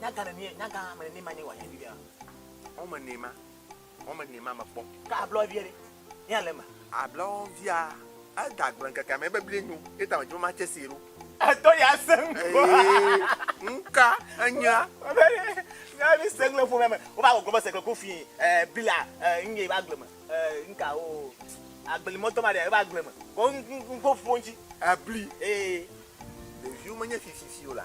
Nyaga neni nyaga me neni ma ne wa yevi bia. O me ne ma. O me ne ma me kpɔ. Ka ablo vie re. Ya le ma. Ablo via e da gbe keke me bebli nyu. E ta me jo ma che si ro. E to ya seng. Nka enya. Ya bi seng le fo me. O ba go go se ko fi eh bila eh nge ba gbe me. Eh nka o. Agbeli moto ma de ba gbe me. Ko nko fonji. Abli. Eh. Le viu me nye fi fi fi o la.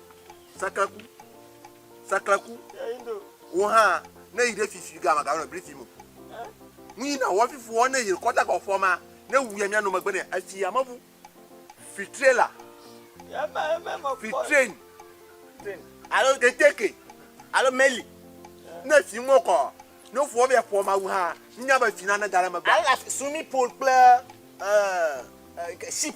Saklaku. Saklaku. Wo hã ne yi ɖe fifi ga ma ga nɔ bli fi mo. Nu yi na wo fifi wo ne yi kɔta ga fɔ ma ne wu ya mia no megbe ne efi ya mebu. Fi trailer. Fi train. Alo keteke. Alo meli. Ne fi mo kɔ. Ne fɔ bɛ fɔ ma wu ha. Nya be fi na ne ga le megbe. Ala sumi pool kple uh, uh, ship.